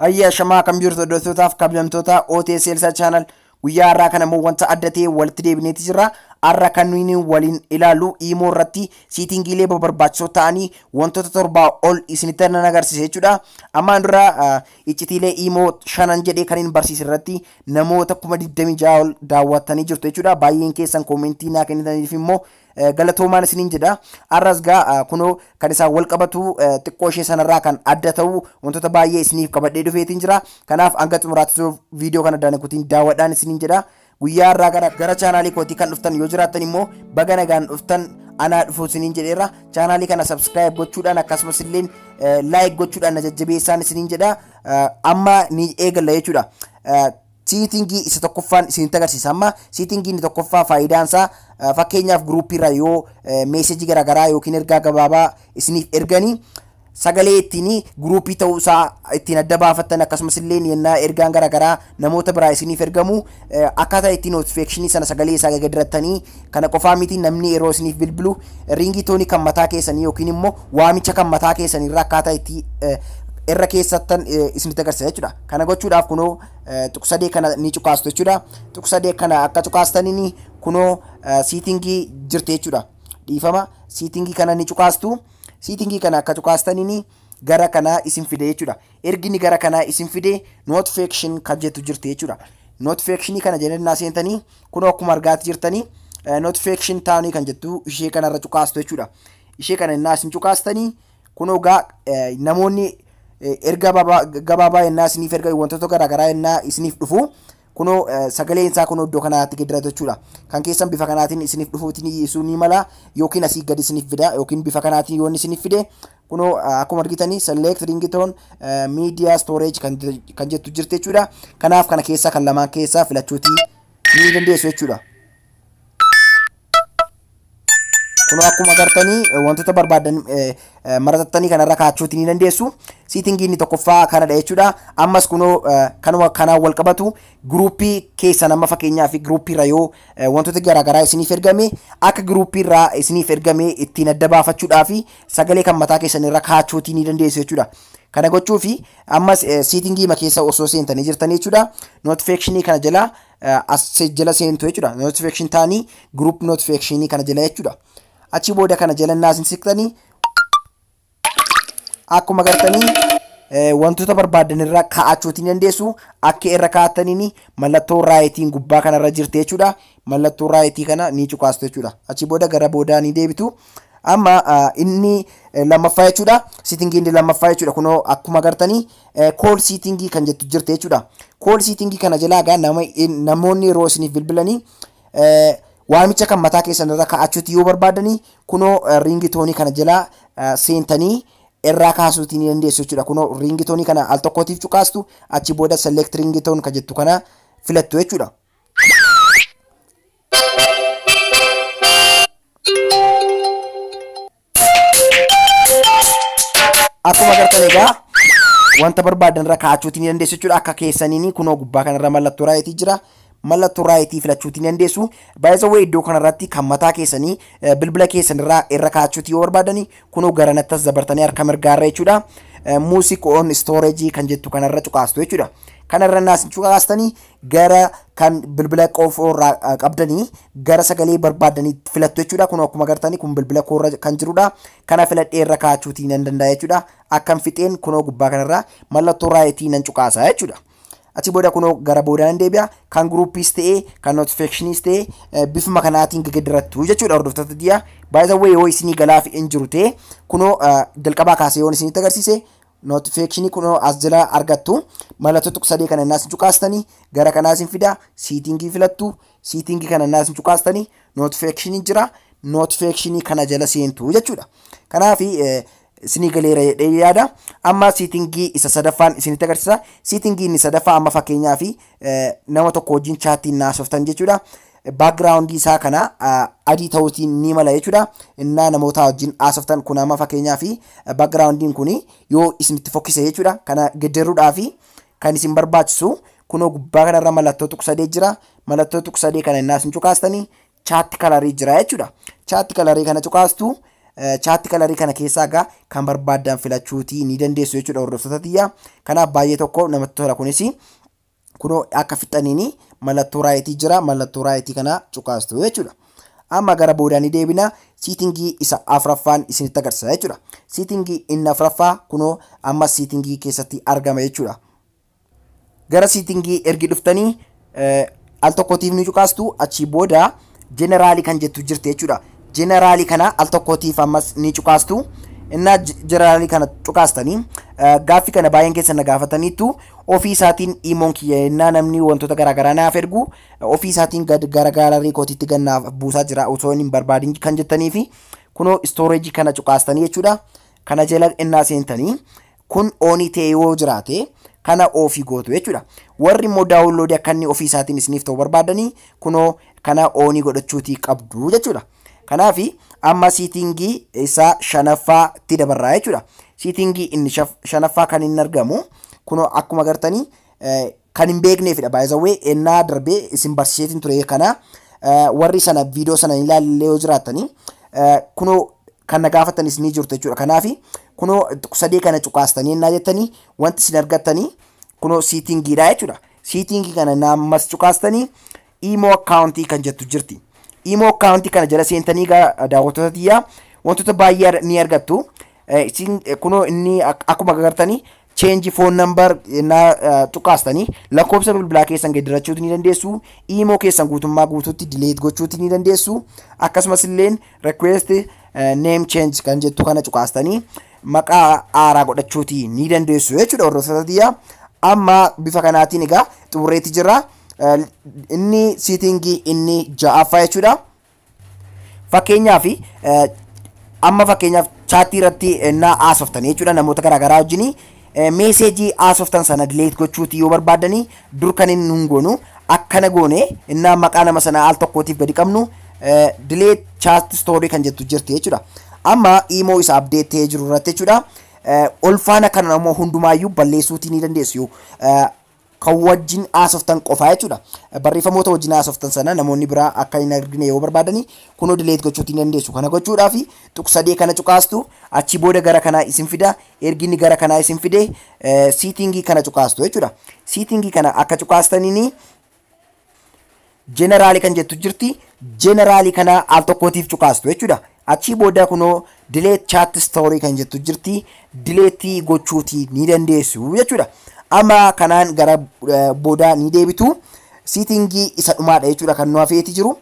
Ayyaa shamaa kan biirtu hordoftootaf kabajamtoota OTS Elsa Channel guyyaa har'aa kana immoo wanta adda ta'e walitti deebineeti jirra. Har'a kan nuyi waliin ilaallu imoo irratti siitingiilee barbaachisoo ta'anii wantoota torbaa ol isinitti nan agarsiisa jechuudha. Ammaan dura iccitiilee imoo shanan jedhee kan hin barsiise irratti Namoota 26,000 ol daawwattanii jirtu jechuudha. Baay'een keessan koomentii naa kennitaniif immoo galatoomaan isiniin jedha. Har'as gaa kunoo kan isaan wal qabatu xiqqoo ishee sanarraa kan adda ta'u wantoota baay'ee isiniif qabadhee dhufeetiin jira. Kanaaf hanga xumuraatti turuuf viidiyoo kana addaan kutiin daawwadhaan isiniin jedha. Guyyaa har'aa kana gara chaanaalii kootii kan dhuftan yoo jiraattan immoo baga nagaan dhuftan anaa dhufuu isiniin jedheera. Chaanaalii kana sabskiraayib gochuudhaan akkasumas illee laayik gochuudhaan na jajjabeessaan isiniin jedha. amma ni eegalla jechuudha. Siitingii isa tokkoffaan isinitti agarsiisa amma siitingii inni tokkoffaa faayidaan isaa fakkeenyaaf guruuppiirra yoo meesejii garaagaraa yookiin ergaa gabaabaa isiniif erganii sagalee ittiin guruuppii ta'uu isaa ittiin adda baafattan akkasumas illee yennaa ergaan garaagaraa namoota biraa isiniif ergamu akkaataa itti notification sana sagalee isaa gaggeessitanii kana qofaa miti namni yeroo isiniif bilbilu riingii toonii kan mataa keessanii yookiin immoo waamicha kan mataa keessanii irra akkaataa itti irra keessattan isinitti agarsiisa jechuudha. Kana gochuudhaaf kunoo tuqsadee kana ni cuqaastu jechuudha. Tuqsadee kana akka cuqaastaniin kunoo siitingii jirti jechuudha. Dhiifama siitingii kana ni cuqaastu. Siitingii kana akka cuqaastaniin gara kanaa isin fide jechuudha. Ergi inni gara kanaa isin fide notification kan jettu jirti jechuudha. Notification kana jenennaa seentanii kunoo akkuma argaati jirtanii notification taanii kan jettu ishee kanarra cuqaastu jechuudha. Ishee kana innaa isin cuqaastanii kunoo gaa namoonni erga gabaabaa ennaa isiniif erga wantoota garaagaraa ennaa isiniif dhufu kunoo sagaleen isaa kunoo iddoo kanaatti geeddaratu jechuudha. Kan keessan bifa kanaatiin isiniif dhufuutiin isuu ni mala yookiin asii gadi isiniif fida yookiin bifa kanaatiin yoon isiniif fide Kunoo akkuma argitanii select ringtone media storage kan, kan jettu jirti jechuudha. Kanaaf kana keessaa kan lamaan keessaa filachuutii ni dandeessu jechuudha. Kunoo akkuma agartanii wantoota barbaadan maratattanii kanarra kaachuutii ni dandeessu. Siitingii inni tokkoffaa kanadha jechuudha. Ammas kunoo kanuma kanaan wal qabatu giruuppii keessan amma fakkeenyaa fi giruuppiirra yoo wantoota garaagaraa isiniif ergame akka giruuppiirraa isiniif ergame ittiin adda baafachuudhaa fi sagalee kan mataa keessan irra kaachuutii ni dandeessu jechuudha. Kana gochuu fi ammas siitingii ma keessa osoo seentanii jirtanii jechuudha. Notification kana jala as jala seentu jechuudha. Notification taanii group notification kana jala jechuudha. Achi booda kana jala naasin siqtanii akkuma gartanii wantoota barbaadan irra kaa'achuutiin dandeessu akka irra kaa'ataniin mallattoo raayitiin gubbaa kanarra jirti jechuudha. Mallattoo raayitii kana ni cuqaastu jechuudha. Achi booda gara boodaa ni deebitu. Amma ah, inni eh, lammaffaa jechuudha. Siitingii inni lammaffaa jechuudha. Kunoo akkuma agartanii kool siitingii kan jettu jirti jechuudha. Kool siitingii kana jalaa egaa nama, in- namoonni yeroo isiniif bilbilanii eh, waamicha kan mataa keessan irra kaa'achuuti yoo barbaadanii kunoo eh, riingi toonii kana jalaa eh, seentanii irraa kaasuutii ni dandeessu jechuudha. Kunoo riingi toonii kana al tokkootiif cuqaastu achi booda select riingi toon kan jettu kana filattu jechuudha. Akkuma agartan egaa wanta barbaadan irra kaa'achuutii ni dandeessu jechuudha. Akka keessaniin kunoo gubbaa kanarra mallattoo raayitii jira. Mallattoo raayitii filachuutii ni dandeessu. Baay'isawwan iddoo kanarratti kan mataa keessanii eh, bilbila keessanirraa irra kaa'achuutii yoo barbaadani kunoo garanattas dabartanii harka mirgaarra jechuudha. Music on storage kan jettu kanarra cuqaastu jechuudha. Kanarra naas cuqaastanii gara kan bilbila qoofoo irraa ah, qabdanii gara sagalee barbaaddanii filattu jechuudha. Kun akkuma agartanii kun bilbila koo irra kan jirudha. Kana filadhee irra kaachuutii nan danda'a jechuudha. Akkan fixeen kunoo gubbaa kanarraa mallattoo raayitii nan cuqaasa jechuudha. Achi booda kunoo gara boodaa nan deebi'a. Kan guruuppiis ta'ee kan notifikashiniis ta'ee eh, bifuma kanaatiin gegeddarattu jechuudha hordoftoota diyaa. Baay'ee yoo isinii galaaf hin jiru ta'e kunoo ah, jalqabaa kaasee yoon isinitti agarsiise Notification kunoo as jala argattu. Mallattoo tuq sadee kana innaas cuqaastanii gara kanaas hin fida. Siitingii filattu. Siitingii kana innaas hin cuqaastanii notification jira. Notification kana jala seentu jechuudha. Kanaaf isinii galeera jedhee yaada. Amma siitingii isa sadaffaan isinitti agarsiisa. Siitingii inni sadaffaa amma fakkeenyaaf nama tokko wajjin chaattiin naasoftan jechuudha. background isaa kana adii ta'uutii ni mala jechuudha. Innaa namootaa wajjin haasoftan kun amma fakkeenyaa fi backgroundiin kun yoo isinitti fokkise jechuudha. Kana gedderuudhaa fi kan isin barbaachisu kunoo gubbaa kanarra mallattoo tuqu sadee jira. Mallattoo tuqu sadee kana innaa isin cuqaastanii chaatti kalarii jira jechuudha. Chaatti kalarii kana cuqaastu chaatti kalarii kana keessaa egaa kan barbaaddan filachuutii ni dandeessu jechuudha hordoftoota tiyya. Kanaaf baay'ee tokko namatti tola kunis. kunoo akka fixxaniin mallattoo raayitii jira mallattoo raayitii kana cuqaastu jechuudha. Amma gara boodaa ni deebina siitingii isa afraffaan isinitti agarsiisa jechuudha. Siitingii inni afraffaa kunoo amma siitingii keessatti argama jechuudha. Gara siitingii ergi dhuftanii al tokkotiif ni cuqaastu achii booda Jeneraalii kan jettu jirti jechuudha. Jeneraalii kana al tokkootiif ammas ni cuqaastu. Innaa jeneraalii kana cuqaastanii gaaffii kana baay'een keessa na gaafataniitu ofii isaatiin imoon kiyya innaa namni wantoota garaagaraa naaf ergu ofii isaatiin gad gara gaalarii kootiitti gad naaf buusaa jira osoo hin barbaadin kan jettanii fi kunoo istooreejii kana cuqaastanii jechuudha. Kana jala innaa seentanii kun ooni ta'ee yoo jiraate kana oofii gootu jechuudha. Warri immoo daawunloodii akka inni ofii isaatiin isiniif ta'u barbaadanii kunoo kana oonii godhachuutii qabdu jechuudha. Kanaaf amma siitingii isaa shanaffaatti dabarraa jechuudha. Siitingii inni shanaffaa kan inni argamu kunoo akkuma gartanii Kan hin beekneefidha by the way ennaa darbee isin barsiiseetiin ture kana warri sana viidiyoo sana hin ilaalle yoo jiraattanii kunoo kan na gaafattanis ni jirtu jechuudha. Kanaaf kunoo sadee kana cuqaastanii ennaa jettanii wanti isin argattanii kunoo siitingiidha jechuudha. Siitingii kana naammas cuqaastanii Imo account kan jettu jirti. Imo account kana jala seentanii egaa daawwattoota tiyyaa wantoota baay'ee ar- ni argattu. Eh, Isin eh, kunoo inni ak- akkuma agartanii change phone number naa eh, tuqaastanii lakkoofsa bilbilaa keessan geeddarachuu ni dandeessu. Imo keessan guutummaa guutuutti delete gochuu ni dandeessu. Akkasumas illeen request eh, name change kan jettu kana cuqaastanii maqaa haaraa godhachuuti ni dandeessu jechuudha hordoftoota tiyyaa. Amma bifa kanaatiin egaa xumurreetti jirra. inni siitingii inni ja'affaa jechuudha. Fakkeenyaaf amma fakkeenyaaf chaattii irratti ennaa haasoftanii jechuudha namoota garaagaraa wajjin meeseejii haasoftan sana dileet gochuuti yoo barbaaddanii dur kan inni nun goonu akkana goone innaa maqaa nama sana al tokkootiif gadi qabnu dileet chaat stoorii kan jettu jirti jechuudha. Amma imoo isa abdeet ta'ee jiru irratti jechuudha. Olfaana kana immoo hundumaayyuu balleessuutii ni dandeessu. kan wajjin haasoftan qofaa jechuudha. Barreeffamoota wajjin haasoftan sana namoonni biraa akka hin argine yoo barbaadani kunoo delete gochuutti ni dandeessu. Kana gochuudhaaf tuq sadee kana cuqaastu achii booda gara kanaa isin fida ergi inni gara kanaa isin fide siitingii kana cuqaastu jechuudha. Siitingii kana akka cuqaastaniin General kan jettu jirti. General kana al tokkootiif cuqaastu jechuudha. Achii booda kunoo delete chat story kan jettu jirti. Delete gochuuti ni dandeessu jechuudha. Amma kanaan gara eh, booda ni deebitu. Siitingii isa dhumaadha jechuudha kan nu hafeeti jiru.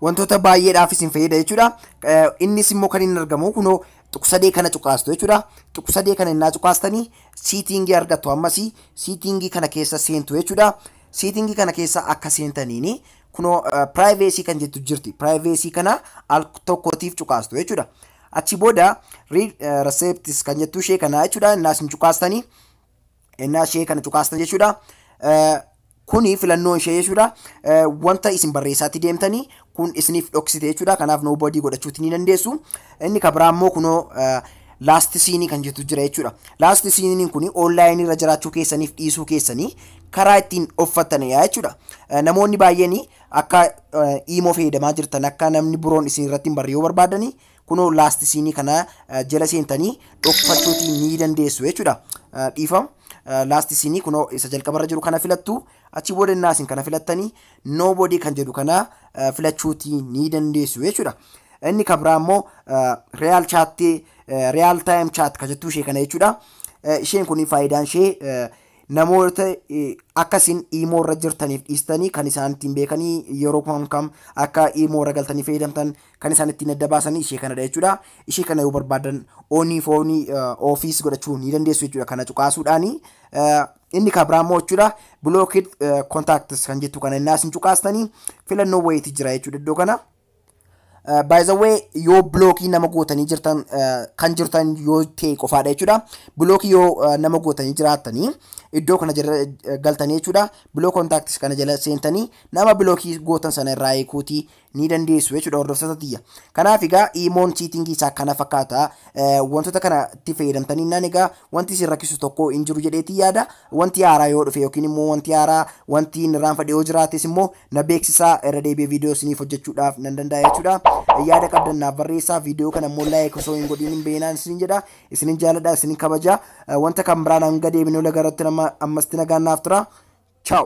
Wantoota baay'eedhaaf isin fayyada jechuudha. Eh, Innis immoo kan inni argamu kunoo tuqsadee kana cuqaastu jechuudha. Tuqsadee kana innaa cuqaastanii siitingii argattu ammasii siitingii kana keessa seentu jechuudha. Setting kana keessa akka seentaniin kunoo privacy kan jettu jirti. Privacy kana al tokkootiif cuqaastu jechuudha. Achi booda read eh, receipts kan jettu ishee kana jechuudha. Innaas hin cuqaastanii. Innaa ishee kana cuqaastan jechuudha. Eh, Kuni filannoo ishee jechuudha. Eh, Wanta isin barreessaatti deemtanii kun isiniif dhoksite jechuudha. Kanaaf no body godhachuuti ni dandeessu. Inni kan biraa immoo kunoo laast siinii kan jettu jira jechuudha. Laast siiniin kun onlaayinii irra jiraachuu keessaniif dhiisuu keessanii karaa ittiin offattanidha jechuudha. Namoonni baay'een akka iimoo fayyadamaa jirtan akka namni biroon isin irratti hin barre yoo barbaadanii kunoo laast siinii kana jala seentanii dhokfachuuti ni dandeessu jechuudha. Dhiifama. laast siinii kunoo isa jalqabarra jiru kana filattu achi booda innaa isin kana filattanii nobody kan jedhu kana filachuutii ni dandeessu jechuudha. Inni kan biraa immoo real chat real time chat kan jettu ishee kana jechuudha. Isheen kun faayidaan ishee namoota akka isin iimoo irra jirtaniif dhiistanii kan isaan ittiin beekanii yeroo kam kam akka iimoo irra galtanii fayyadamtan kan isaan ittiin adda baasanii ishee kanadha jechuudha. Ishee kana yoo barbaadan onii foonii ofiis godhachuu ni dandeessu jechuudha kana cuqaasuudhaani. Inni kan biraa immoo jechuudha blocked eh, contacts kan jettu kana innaa isin cuqaastanii filannoo wayiiti jira jechuudha iddoo kana. Uh, by the way yoo blookii nama gootanii jirtan uh, kan jirtan yoo ta'e qofaadha jechuudha blookii yoo uh, nama gootanii jiraattanii iddoo kana jala uh, galtanii jechuudha block contacts kana jala seentanii nama blookii gootan sana irraa eekuuti ni dandeessu jechuudha hordoftoota tiyya. Kanaaf egaa iimoon siitingii isaa kana fakkaata wantoota kana itti fayyadamtanii naan egaa wanti isin rakkisu tokko hin jiru jedheetii yaada wanti haaraa yoo dhufe yookiin immoo wanti haaraa wanti inni irraanfadhe yoo jiraates immoo na beeksisaa irra deebi'ee viidiyoo isiniif hojjechuudhaaf nan danda'a jechuudha. Yaada qabdan naaf barreessaa viidiyoo kana immoo laayik osoo hin godhiin hin beeynaan isinin jedha isinin jaaladha isinin kabaja wanta kan biraan hanga deebinee laga irratti ammas nagaan naaf tura. Ciao.